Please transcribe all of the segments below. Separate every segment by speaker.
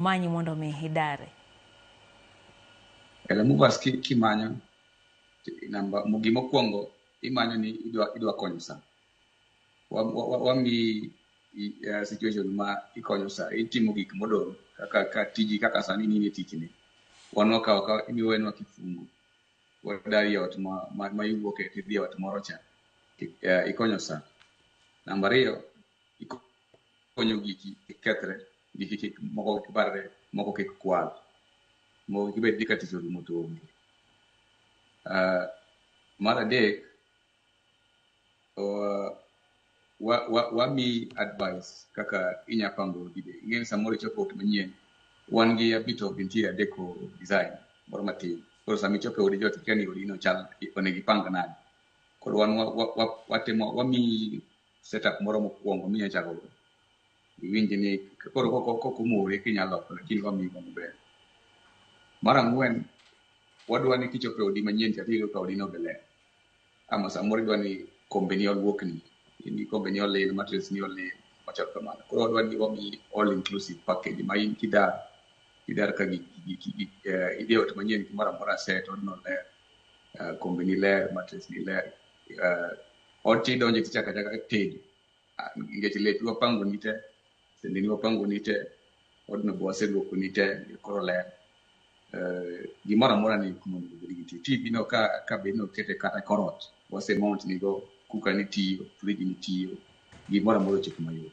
Speaker 1: manyi mondo mi idare
Speaker 2: kata mubas kimanyo namba gimokwongo imanyo ni idwa idwa konyo sa wami eh, situation ma ikonyo sa itimo gik modong kaka ka tiji kaka sani nini tijni wanwa ka ka imiwenwa kifungu wadari ot ma ma iwuoke tidhi ot moro cha eh, ikonyo sa namba ariyo konyo giki kik kethre giki kik moko kik barre moko kik kwal moko kik bed ni ka tich orumo to onge Ah, mar adek uh, wa, wa, wami advice kaka inya pango gide ing'eyo samoro ichopo ot manyien wan gi a bit of interior deco design moro matin koro sama ichopo e odi jot ikia ni odino chal onego ipang nade koro wan wa- wa- wa- watimo wami setup moro mokwongo minya chako go iwinj ni koro koko koko mori kinyalo loko lakini wamiyi go maber mar ang'wen wadwa ni kichopo e odi manyien cha tiyudo ka odino be ler ama samoro idwa ni kombeni olwokni ni kombeni olil matres ni olil machal kamano koro wadwa ni wamiyi all inclusive package ma in kidar kidar ka gi- gi- gi- gi- eh, idhi e ot manyien gimoro amora set odno ler eh, kombeni ler matres ni ler uh, ot cha idonje tichaka chaka tedo Ah, nikech lepi wapango ni te sende ni wapango ni te odno bo waseluoko ni te koro ler Eh, gimoro amora ni kumondo obed gi tv tv no ka ka bed ni okete kata korot wase mount nigo kuka ni tiyo friji ni tiyo gimoro amora ochopo mayot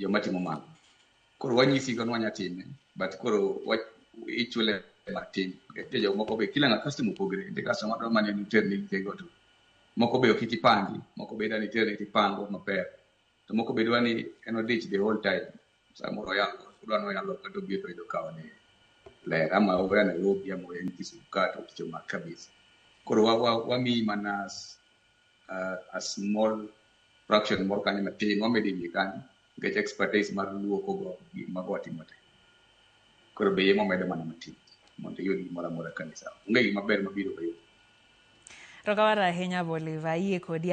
Speaker 2: joma timo mano koro wanyisi go nwanya time but koro wa- ichule matin nitie jok moko be kila ng'a customer opogre nitie customer dwa mana ni terni tego to moko be ok iti pangi moko be dwa ni terni tipango maber to moko be dwa ni en odich the whole time samoro oyalo odwa ni oyalo kata obiro to yudo ka one ler ama oya Nairobi ama oya Kisumu ka to oticho mak kabisa koro wa- wa- wamiyi mana s- uh, a small fraction moro kanyo matin wamedo e wiye kanyo nikech expertise mar luoko go gik mago watimo te koro be yemo medo mana matin mondo iyud gimoro amora kanisa onge gima ber
Speaker 1: mabiro
Speaker 2: be Rokawaru ahinya Boliva,
Speaker 1: ayie
Speaker 2: kodi.